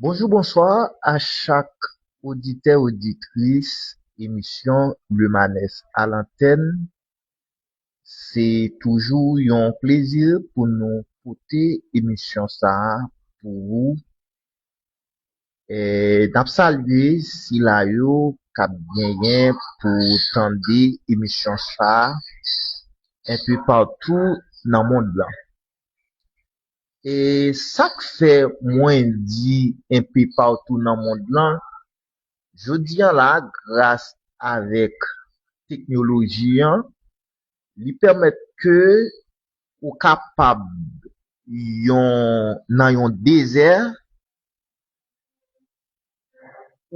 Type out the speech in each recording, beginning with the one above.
Bonjou bonswa a chak oditè oditris emisyon Lemanes a lantèn se toujou yon plezi pou nou pote emisyon sa pou ou Nap salye sila yo kap genyen pou tande emisyon sa enpe patou nan mond lan. E sak fè mwen di enpe patou nan mond lan, jodi an la gras avèk teknoloji an, li pèmèt ke ou kapab yon nan yon dezè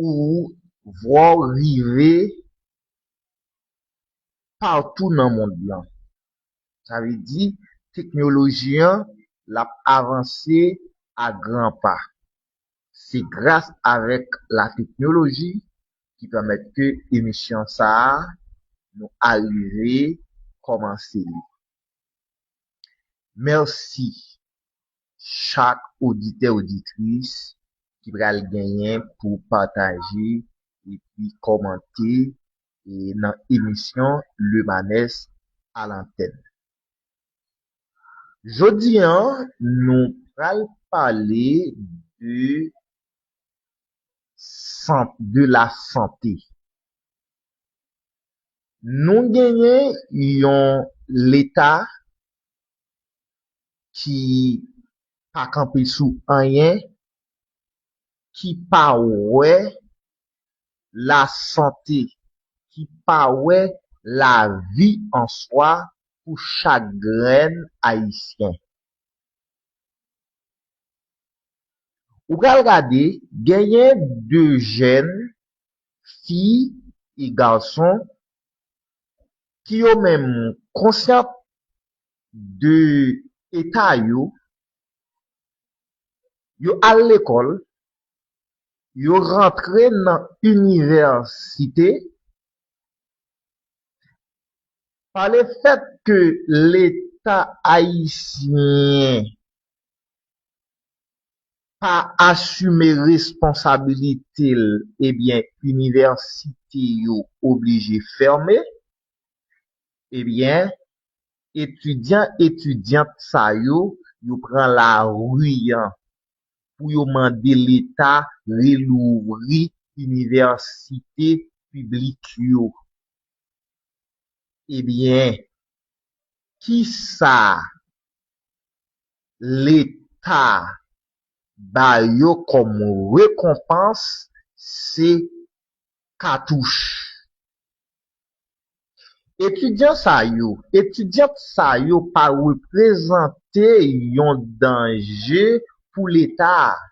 Ou vwaw rive patou nan mond lan. Sa vle di teknoloji an l ap avanse a gran pa. Se gras avèk la teknoloji ki pèmèt ke emisyon sa a nou arive kòmanse li. Mèsi. chak oditè oditris ki pral genyen pou pataje epi kòmante nan emisyon Lemanès Alantèn. Jodi an nou pral pale de sant de la sante. Nou genyen yon leta ki pa kanpe sou anyen, ki pa wè lasante, ki pa wè lavi an swa pou chak grenn Ayisyen. Ou pral gade, genyen de jèn fi e gason ki yo menm konsyan de eta yo, yo al lekòl, yo rantre nan inivèsite, pa le fèt ke leta ayisyen pa asime responsabilite l ebyen inivèsite yo oblije fème ebyen etidyan etidyant sa yo yo pran lari an pou yo mande leta relouvri inivèsite piblik yo ebyen kisa leta ba yo kòm rekonpans se katouch. Etidyan sa yo, etidyant sa yo pa reprezante yon danje pou leta a.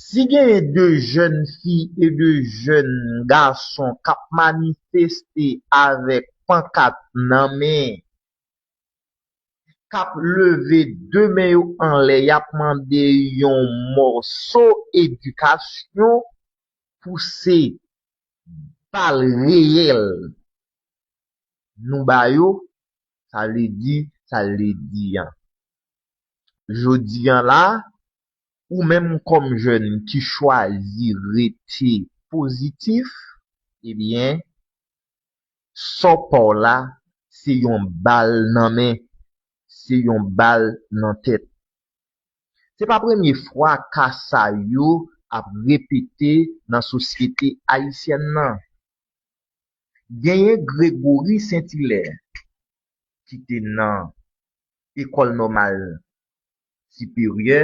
Si genyen de jèn fi e de jèn gason k ap manifeste avèk pankat nan men, kap leve 2 men yo anlè yap mande yon mòso edikasyon pou se bal reyèl nou ba yo sa vle di sa vle di an jodi an la ou menm kòm jèn ki chwazi rete pozitif ebyen Sò paw la se yon bal nan men, se yon bal nan tèt. Se pa premye fwa ka sa yo ap repete nan sosyete ayisyèn nan. Genyen Gregory Saint-Hilaire ki te nan Ecole Normale Siperyè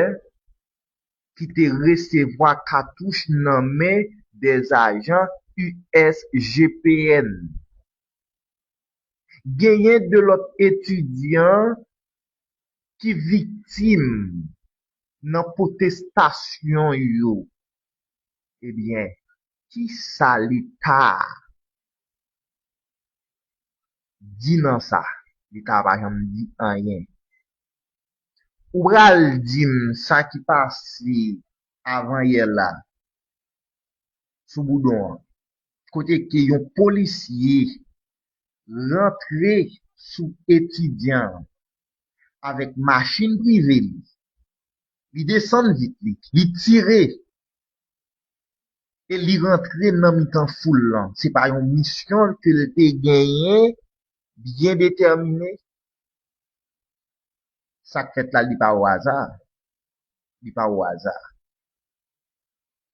ki te resevwa katouch nan men 2 ajan USGPN. Genyen 2 lòt etidyan ki viktim nan pwotestasyon yo. Ebyen, kisa leta di nan sa? Leta pa janm di anyen. Ou pral di m sa ki pase avan yè la sou Boudon an kote ke yon polisye rantre sou etidyan an avèk machin prive li, li desann vit li, li tire e li rantre nan mitan foul lan. Se pa yon misyon ke l te genyen byen detèmine? Sak fèt la li pa o aza, li pa o aza.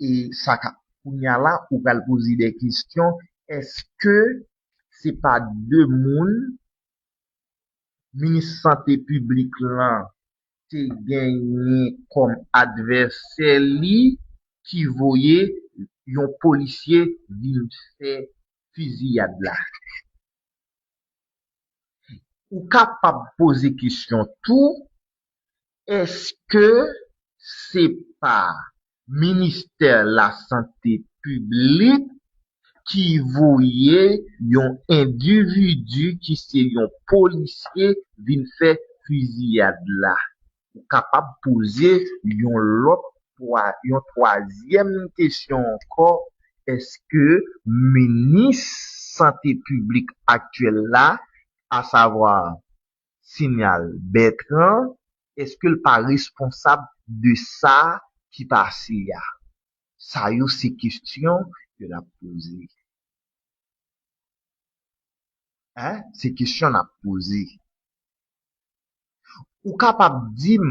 E sa ka, kounya la ou pral poze de kesyon, eske se pa de moun minis sante piblik lan te genyen kòm advèsè li ki voye yon polisye vin fè fiziyad la? Ou kapab poze kesyon tou, Èske se pa Ministè Lasante Piblik ki voye yon endividi ki se yon polisye vin fè fiziyad la? ou kapab poze yon lòt twa yon twazyèm kesyon ankò èske minis sante piblik aktyèl la asavwa Signal Bertrand èske l pa responsab de sa ki pase a sa yo se kesyon ke n ap poze hein se kesyon n ap poze. Ou kapab di m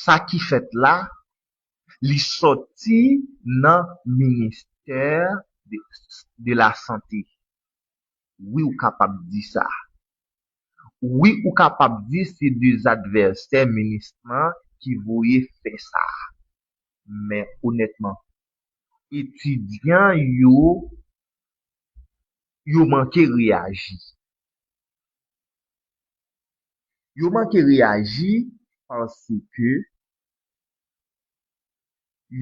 sa ki fèt la? Li soti nan ministè de la sante. Wi ou kapab di sa. Wi ou kapab di se de advèsè minis lan ki voye fè sa. Men onètman, etidyan yo, yo manke reyaji. Yo manke reyaji paske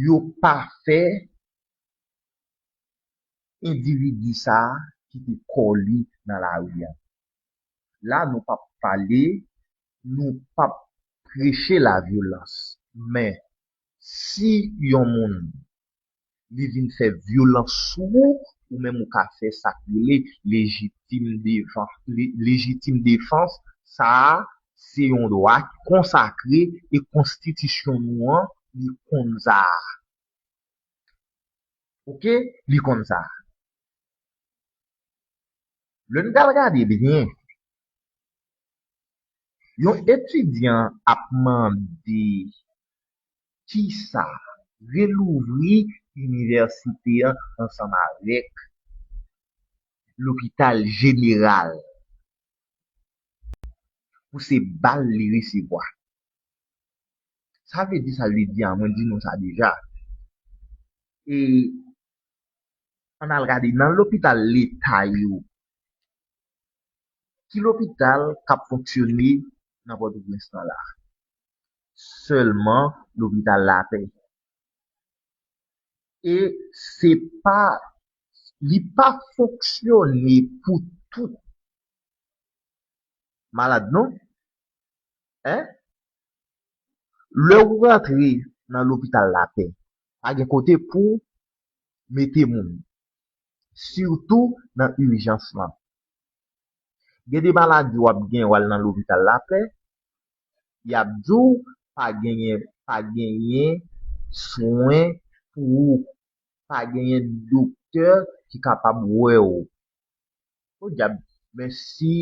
yo pa fè endividi sa a kite kò li nan lari a. La nou pap pale, nou pap preche lavyolans. Men, si yon moun li vin fè vyolans sou ou, ou menm ou ka fè sa k rele lejitim defans. Lejitim defans sa a se yon dwa ki konsakre e konstitisyon nou an li konn sa a. Ok, li konn sa a. Lè n pral gade byen, yon etidyan ap mande kisa relouvri inivèsite an ansanm avèk lopital jeneral pou se bal li resevwa. Sa vle di sa l vle di a, mwen di nou sa deja. E ann al gade nan lopital leta yo, ki lopital k ap fonksyone nan Pòtoprens lan la a? sèlman lopital lapè e se pa li pa fonksyone pou tout malad non e lè ou rantre nan lopital lapè pa gen kote pou mete moun sitou nan ijans lan gen de maladi wap gen wal nan lopital lapè yap diw pa genyen pa genyen swen pou ou pa genyen doktè ki kapab wèw podyab men si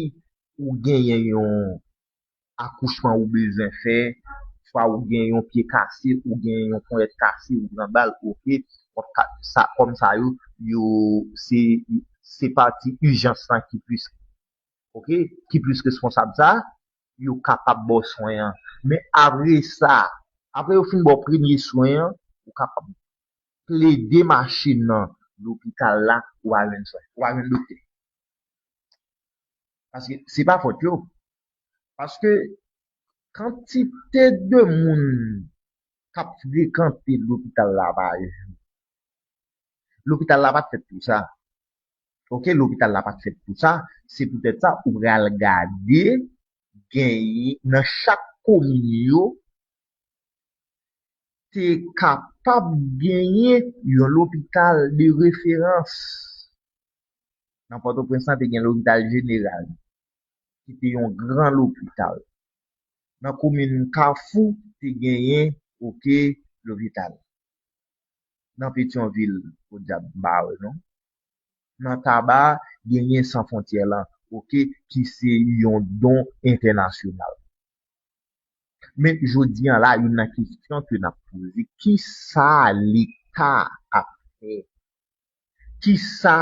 ou genyen yon akouchman ou bezwen fè swa ou gen yon pye kase ou gen yon ponyèt kase ou pran bal ok wap ka sa kòm sa yo yo se se pati ijans lan ki plis ok ki plis responsab sa yo kapab ba w swen an. Men apre sa, apre yo fin ba w premye swen an, ou kapab plede mache nan lopital la pou w al jwenn swen, pou w al jwenn doktè. Paske se pa fòt yo. Paske kantite de moun k ap frekante lopital la pa jou. Lopital la pa t fèt pou sa. ok lopital la pat fèt pou sa se poutèt sa ou pral gade genyen nan chak komin yo te kapab genyen yon lopital de referans nan pòtoprens lan te gen lopital jeneral ki te yon gran lopital nan komin kafou te genyen ok lopital nan petyonvil podyab m pa wè non nan taba a genyen san fontyè lan ok ki se yon don entènasyonal men jodi an la youn nan kesyon ke nap poze ki sa leta ap fè ki sa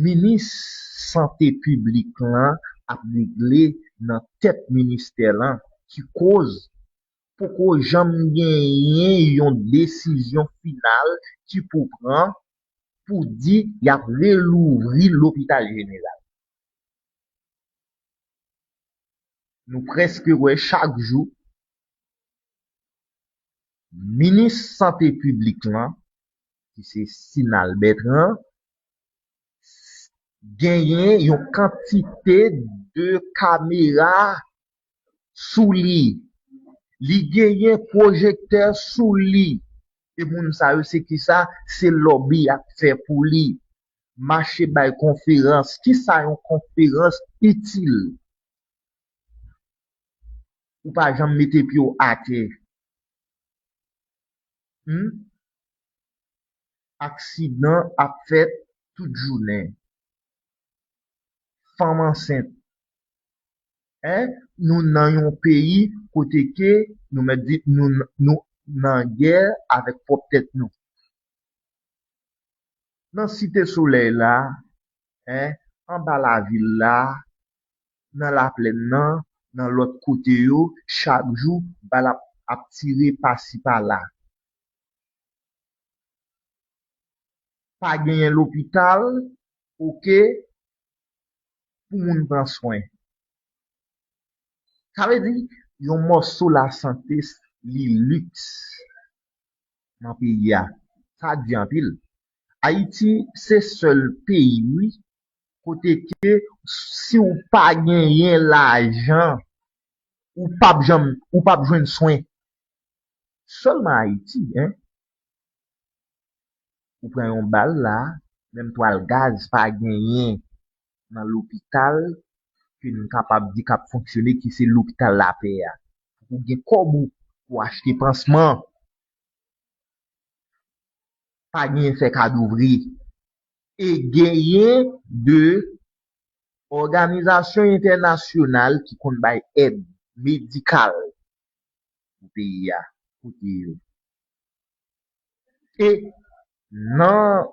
minis sante piblik lan ap regle nan tèt ministè lan ki koz poko janm genyen yon desizyon final ki pou pran pou di y ap relouvri lopital jeneral. Nou prèske wè chak jou minis sante piblik lan ki se Sinal Bertrand genyen yon kantite de kamera sou li. Li genyen pwojektè sou li. E moun sa yo se kisa? Se lòbi y ap fè pou li. Mache bay konferans. Kisa yon konferans itil? Ou pa janm mete pye w atè. Hum? Aksidan ap fèt tout jounen. Fanm ansent. Hein nou nan yon peyi kote ke nou mèt di nou nou nan gè avèk pwòp tèt nou. Nan site solèy la hein anba lavil la nan laplèn nan nan lòt kote yo chak jou bal ap ap tire pasi pala. Pa genyen lopital ok pou moun pran swen. Sa vle di, yon mòso lasante li liks nan peyi a. Sa di anpil. Ayiti se sèl peyi wi kote ke si w pa genyen lajan, ou p ap janm, ou p ap jwenn swen. Sèlman Ayiti. ou pran yon bal la menm twal gaz pa genyen nan lopital ke nou kapab di kap fonksyone ki se lopital lapè a pou kou gen kòb ou pou achte pansman pa genyen fè kado vre e genyen de òganizasyon entènasyonal ki konn bay èd medikal pou peyi a kote yo. e nan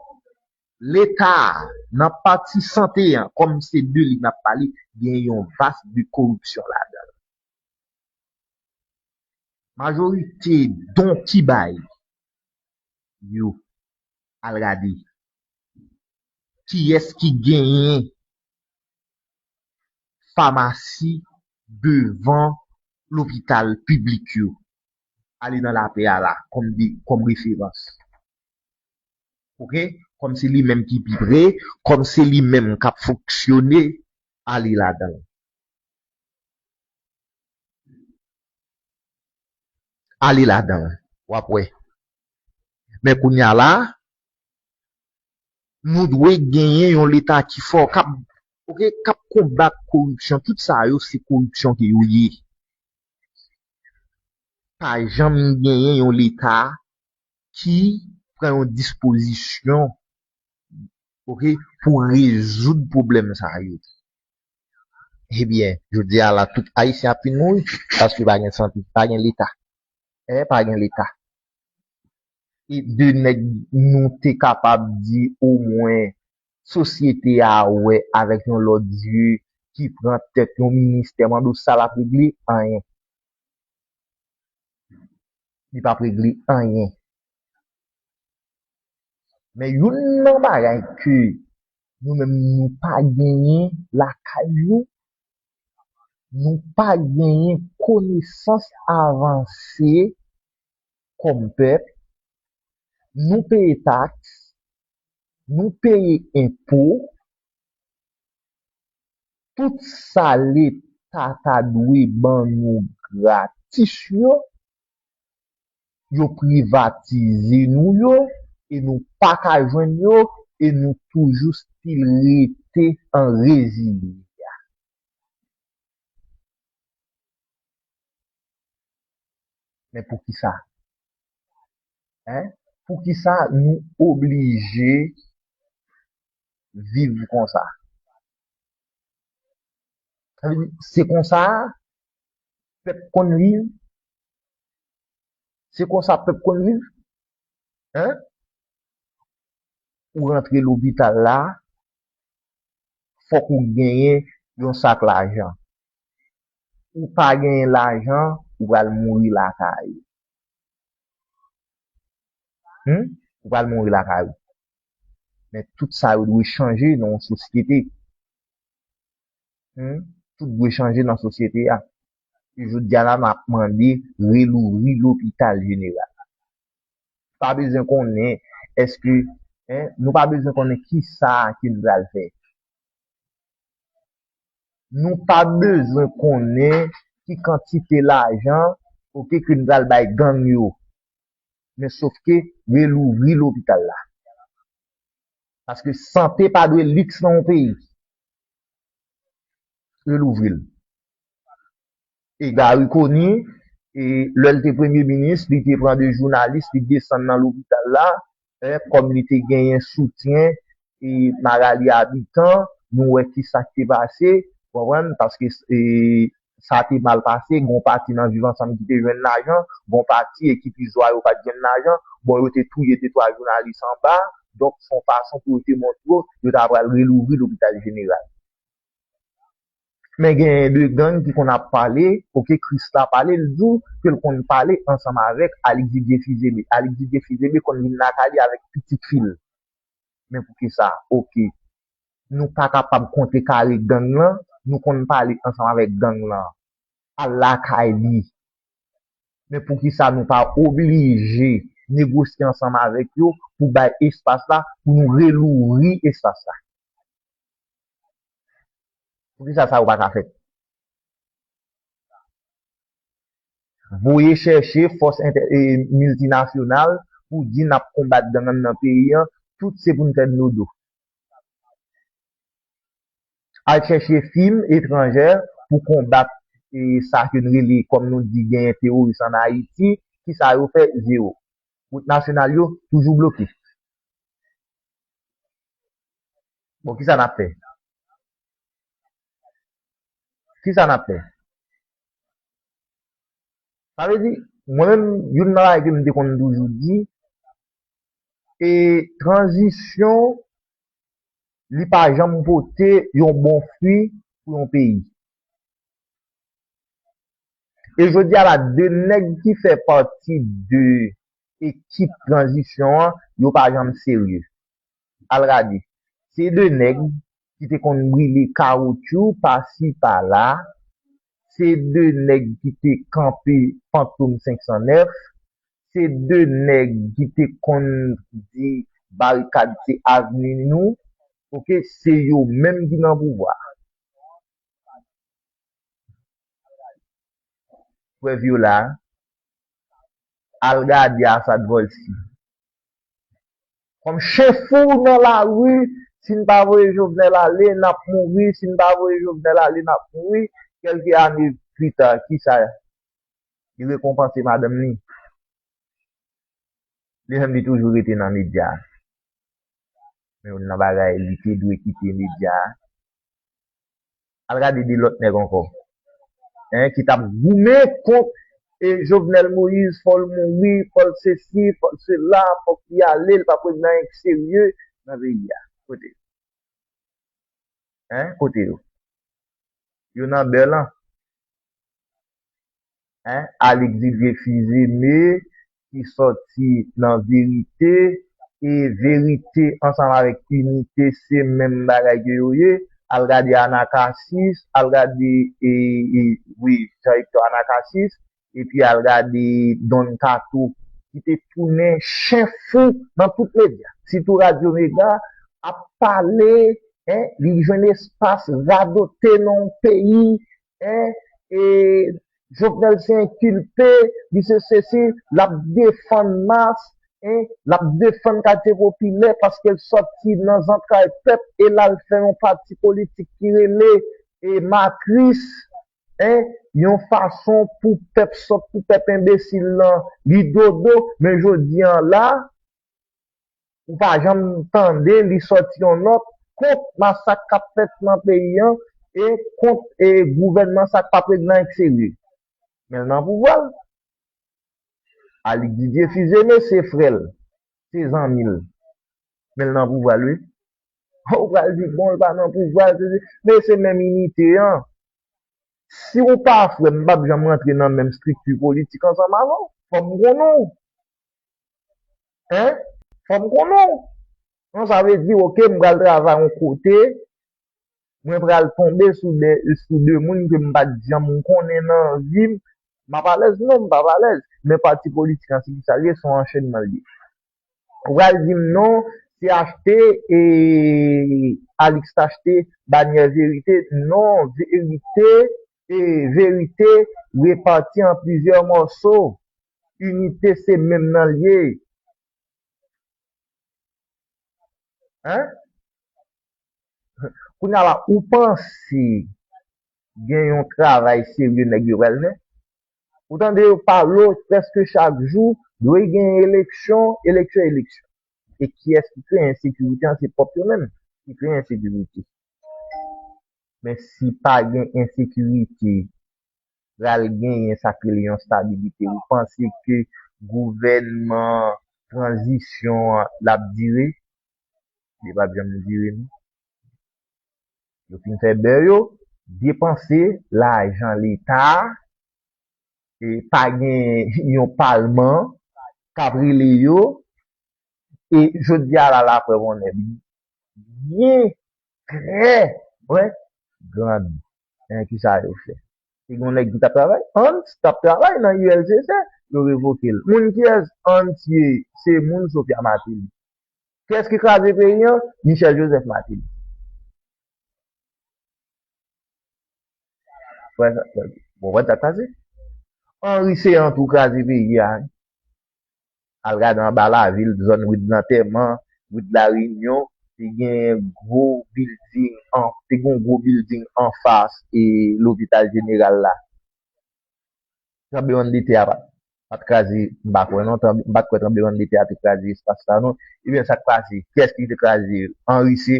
leta a, nan pati sante an, kòm se de li n ap pale, gen yon vas de koripsyon ladan l. Majorite don ki bay yo, al gade kiyès ki genyen famasi devan lopital piblik yo. ale nan lapè a la kòm de kòm referans ok kòm se li menm ki pi pre kòm se li menm kap fonksyone ale ladanl ale ladanl wap wè men kounya la nou dwe genyen yon leta ki fò kap ok kap konbat koripsyon tout sa yo se koripsyon ke yo ye. pa janm genyen yon leta ki pran yon dispozisyon ok pou rezoud pwoblèm sa yo. Ebyen, jodi a la tout ayisyen ap fin mouri paske pa gen sante, pa gen leta. E pa gen leta. E de nèg nou te kapab di omwen sosyete a wè avèk yon lòt zye ki pran tèt yon ministè mande w sa l ap regle? Anyen. Li p ap regle anyen. Men youn nan bagay ke nou menm nou pa genyen lakay nou, nou pa genyen konesans avanse kòm pèp, nou peye taks, nou peye enpo, tout sa leta ta dwe ban nou gratis yo, yo privatize nou yo e nou pa ka jwenn yo e nou toujou stil rete an rezile. Men poukisa? Hein poukisa nou oblije viv konsa? Sa vle di se konsa pèp konn viv? Se konsa pèp konn viv? Hein ou rantre lopital la fòk ou genyen yon sak lajan. Ou pa genyen lajan ou pral mouri lakay ou. Humm ou pral mouri lakay ou. Men tout sa yo dwe chanje nan yon sosyete. Humm tout dwe chanje nan sosyete a. E jodi a la map mande relouvri lopital jeneral la. Pa bezwen konnen eske hein nou pa bezwen konnen kisa ke nou pral fè. nou pa bezwen konnen ki kantite lajan ok ke n pral bay gang yo men sof ke relouvri lopital la paske sante pa dwe liks nan yon peyi relouvri l. e Garry Conille e lè l te premye minis li te pran 2 jounalis li desann nan lopital la e kòm li te genyen soutyen e Marali Habitant nou wè kisa k te pase ou konprann paske e sa te mal pase gon pati nan viv ansanm ki te jwenn lajan gon pati ekip izwa yo pat jwenn lajan bon yo te touye 2 twa jounalis anba donk son fason pou yo te montre w yo ta pral relouvri lopital jeneral. Men genyen 2 gang ki konn ap pale ok Christa pale li diw kel konn pale ansanm avèk Alix Didier Fils-Aimé Alix Didier Fils-Aimé konn vin lakay li avèk pitit fil men poukisa ok nou pa kapab konte kare gang lan nou konn pale ansanm avèk gang lan al lakay li men poukisa nou pa oblije negosye ansanm avèk yo pou bay espas la pou nou relouvri espas la. Poukisa sa yo pa ka fèt? Voye chèche fòs miltinasyonal pou di nap konbat gang an nan peyi an, tout se pou n fè dlo do. Al chèche fim etranjè pou konbat sa ke n rele kòm nou di genyen teworis an Ayiti, ki sa yo fè? Zewo. Wout nasyonal yo toujou bloke. Bon kisa nap fè? Kisa nap fè? Sa vle di, mwen menm youn nan bagay kem te konn toujou di, e tranzisyon li pa janm pote yon bon fwi pou yon peyi. E jodi a la 2 nèg ki fè pati de ekip tranzisyon an, yo pa janm serye. Al radi. Se 2 nèg ki te konn brile kawoutchou pa si pa la, se 2 nèg ki te kanpe Fantom 509, se 2 nèg ki te konn di barikad se avni nou, ok, se yo menm ki nan pouvwa a. Prèv yo la. Al gade Assad Volcy. Kom chen fou nan la rue si n pa voye Jovenel ale n ap mouri si n pa voye Jovenel ale n ap mouri kelke ane pita kisa li rekonpanse madanm li li menm li toujou rete nan media se youn nan bagay li te dwe kite media Al gade de lòt nèg ankò hein ki tap goumen kont e Jovenel Moïse fòl mouri fòl sesi fòl sela fòk li ale li pap regle anyen ki serye nan peyi a kote yo hein kote yo yo nan bè lan. Alix Didier Fils-Aimé ki sòti nan Verite e Verite ansanm avèk Inite se menm bagay ke yo ye, al gade Anacasis, al gade wi Jean Hector Anacasis epi al gade Don Kato ki te tounen chen fou nan tout medya sitou Radyo Mega ap pale li jwenn espas radote nan yon peyi Jovenel se enkilpe, li se sesi, l ap defann mas, l ap defann katye popilè paske l sòti nan zantray pèp e l al fè yon pati politik ki rele Makris. Yon fason pou pèp sòt, pou pèp enbesil lan li dodo. Men jodi an la, ou pa janm tande li sòti yon nòt kont masak kap fèt nan peyi an e kont gouvènman sa k pa prezidan an k serye men l nan pouvwa l Alix Didier Fils-Aimé se frè l se zanmi l men l nan pouvwa l wi ho ou pral di bon l pa nan pouvwa l sesi men se menm inite an si ou pa frè m m pap janm rantre nan menm estrikti politik ansanm avè w fò m konnen w Hein? Fò m konnen w. An sa vle di ok m pral travay yon kote, mwen pral tonbe sou de sou de moun ke m pa t janm konnen nan vi m. M ap alèz? Non m p ap alèz. Men pati politik an se ki sa l ye, s on anchènman l ye. Ou pral di m non se achte e Alix t achte banyè verite. Non verite e verite repati an plizyè mòso. Inite se menm nan l ye. Kounya la ou panse gen yon travay serye nèg yo pral fè? Ou tande yo pale prèske chak jou dwe gen eleksyon, eleksyon, eleksyon. E kiyès ki kreye ensekirite an? Se pwòp yo menm ki kreye ensekirite. Men si pa gen ensekirite pral genyen sa k rele yon stabilite. Ou panse ke gouvènman tranzisyon an l ap dire? Li p ap janm dire non. Yo fin fè bè yo, depanse lajan leta a, e pa gen yon palman k ap rele yo. E jodi a la, laprèv on è byen trè byen grandi. Ebyen kisa yo fè? Te gen yon nèg ki tap travay, Hans tap travay nan ULCC, yo revoke l. Moun kiyès Hans ye? Se moun Sophia Martelly. Kiyès ki kraze peyi an? Michel Joseph Martelly. Ou konprann sa k pase? Henri Ceant tou kraze peyi a. Al gade anba lavil, zòn ri Dlantèman, ri Dlareyinyon, te gen gwo bilding an, te gen yon gwo bilding anfas e lopital jeneral la. Tranblemann de tè a pa t kraze, m pa kwè non, m pa t kwè tranblemann de tè a te kraze espas sa non. Ebyen sa k pase? Kiyès ki te kraze l? Anri se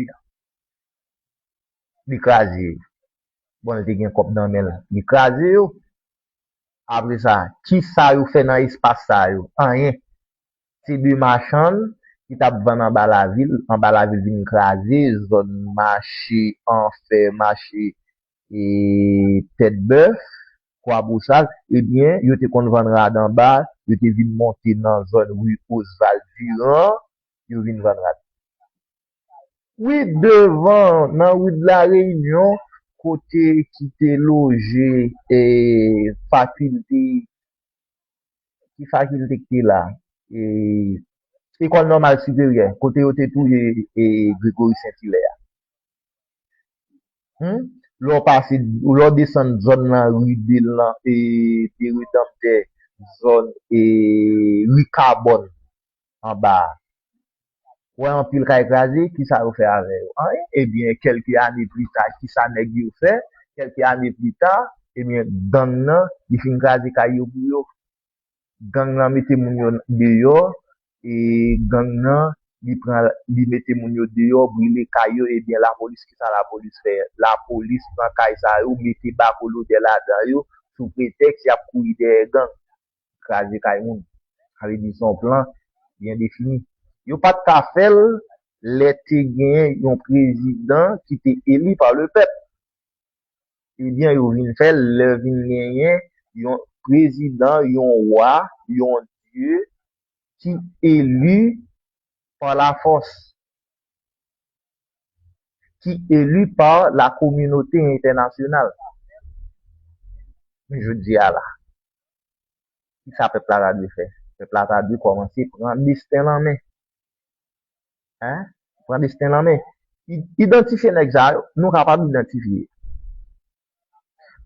li kraze yo. Bon li te gen kòb nan men l, li kraze yo. Apre sa, kisa yo fè nan espas sa yo? Anyen. Se 2 machann ki t ap vann anba lavil, anba lavil vin kraze, zòn mache anfè, mache tètbèf, kwabosal, ebyen yo te konn vann rad anba, yo te vin monte nan zòn ri Osval Diran, yo vin vann rad. Wi devan nan rue de la Réunion kote ki te loje fakilte ki fakilte ki te la Ecole normale supérieure kote yo te touye Grégory Saint Hilaire a lè w pase lè w desann zòn nan rue de lan de Rédempteur zòn rue Carbonne anba a. Wè anpil kay kraze, ki sa yo fè avè yo? Anyen! Ebyen, kèlke ane plita, ki sa nèg yo fè? Kèlke ane plita, ebyen, gang nan, li fin kraze kay yo pou yo. Gang nan mete moun yo deyò, e gang nan, li pran, li mete moun yo deyò, brile kay yo, ebyen, lapolis, ki sa lapolis fè? Lapolis pran kay sa yo, mete bakolodè ladan yo, sou pretèks y ap kouri dèyè gang. kraze kay moun. Sa vle di se yon plan byen defini. Yo pa t ka fè l lè te gen yon prezidan ki te eli pa le pèp. Ebyen yo vin fè l lè vin genyen yon prezidan, yon wa, yon dye ki eli pa lafòs. ki eli pa la kominote entènasyonal jounen jodi a la. Ki sa pèp la ta dwe fè? Pèp la ta dwe kòmanse pran desten l an men. Pran desten l an men. Idantifye nèg sa yo, nou kapab idantifye.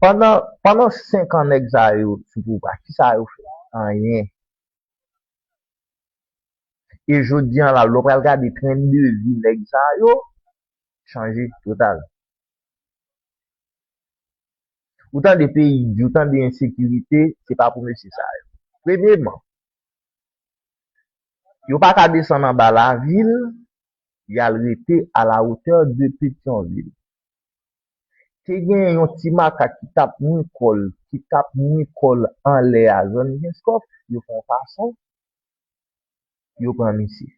Pandan 5 an nèg sa yo sou pouvwa, ki sa yo fè? Anyen. E jodi an la lè w pral gade tren de vi nèg sa yo chanje total. Ou tande peyi di, ou tande ensekirite, se pa pou mesye sa yo. Premyeman, yo pa ka desann anba lavil, y al rete a la otè de Petyonvil. Te gen yon ti makak ki t ap mou kò l, ki t ap mou kò l anlè a zòn Kenskòf, yo fè yon fason Yo pran misye.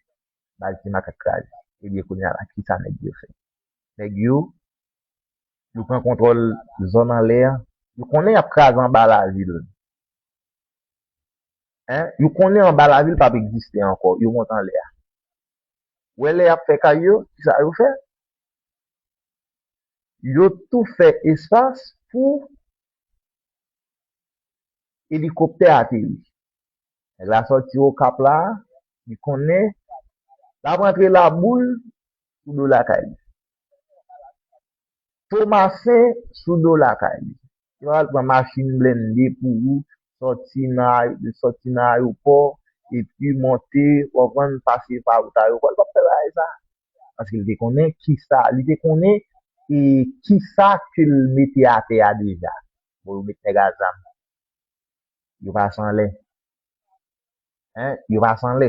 Baz ti makak kraze. Ebyen kounye a la kisa nèg yo fè? Nèg yo yo pran kontwòl zòn anlè an. Yo konnen y ap kraze anba lavil. Yo konnen anba lavil p ap egziste ankò. Yo monte anlè a. Ou wè lè y ap fè kay yo, kisa yo fè? Yo tou fè espas pou elikoptè ateri. Nèg la sòti Okap la, li konnen l ap antre Laboul sou do lakay li. Tomasen sou do lakay li. Yo al pran machin blende pou ou, sòti nan ayopò, epi monte, konprann, pase pa wout ayopò. Li pa p fè bagay sa. Paske li te konnen ki sa, li te konnen e ki sa ke l mete atè a deja. Bon yo met nèg a zam. yo pa san lè. Hein, yo pa san lè.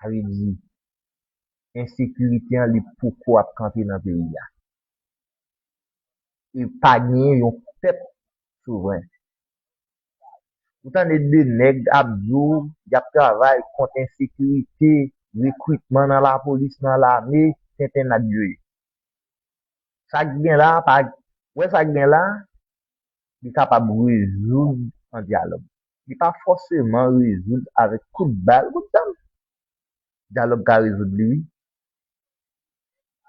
Sa vle di, ensekirite an li poko ap kanpe nan peyi a. E pa genyen yon pèp souvren. Ou tande 2 nèg ap di w y ap travay kont ensekirite, rekritman nan lapolis, nan lame, tenten n ap yoye. Sa k gen la a pa, wè sa k gen la a, li kapab rezoud an dyalòg. Li pa fòseman rezoud avèk kout bal, kout zam. Dyalòg ka rezoud li wi.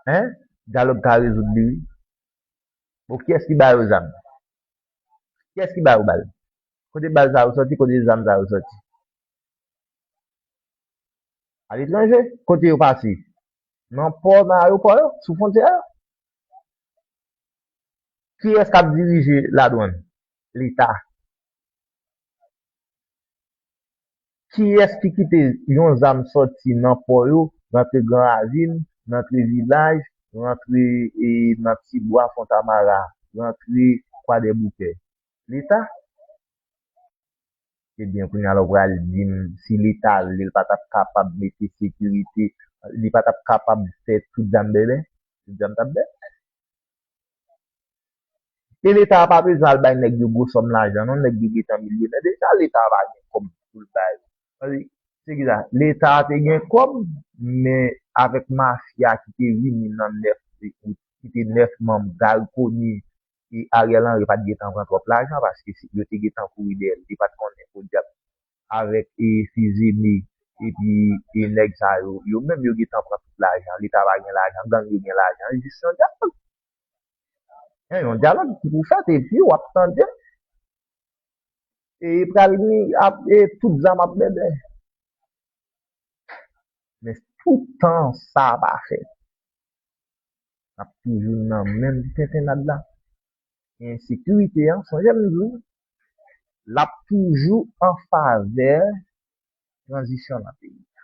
Hein? Dyalòg ka rezoud li wi. Bon kiyès ki ba yo zam? Kiyès ki ba yo bal? Kote bal sa yo sòti, kote zam sa yo sòti? A letranje? Kote yo pase? Nan pò, nan ayopò yo? Sou fwontyè yo? Kiyès k ap dirije ladwann? Leta. Kiyès ki kite yon zam sòti nan pò yo, rantre Gran Ravin, rantre Vilaj, rantre nan ti bwa Fontamara, rantre Kwadèboukè? Leta. Ebyen, kounye a la w pral di m, si Leta vle, l pa t ap kapab mete sekirite, li pa t ap kapab fè tout zam bèbè? Tout zam t ap bèbè? E leta a pa bezwen al bay nèg yo gwo sòm lajan non, nèg yo gentan milyonè deja, leta a pa gen kòb poul bay, paske se kisa, leta a te gen kòb men avèk mafya ki te vini nan 9 out, ki te 9 manm Gary Conille e Ariel Henry pat gentan pran twòp lajan paske yo te gentan kouri dèyè l, li pat konnen podyab Avèk e fizi mi epi e nèg sa yo yo menm yo gentan pran tout lajan leta pa gen lajan gang yo gen lajan e jis yon dyalòg e yon dyalòg ki pou fèt epi wap tande e pral gen ap e tout zam ap bèbè men toutan sa pa fèt nap toujou nan menm tentennad la e ensekirite an sonje m di w lap toujou an favè tranzisyon nan peyi a.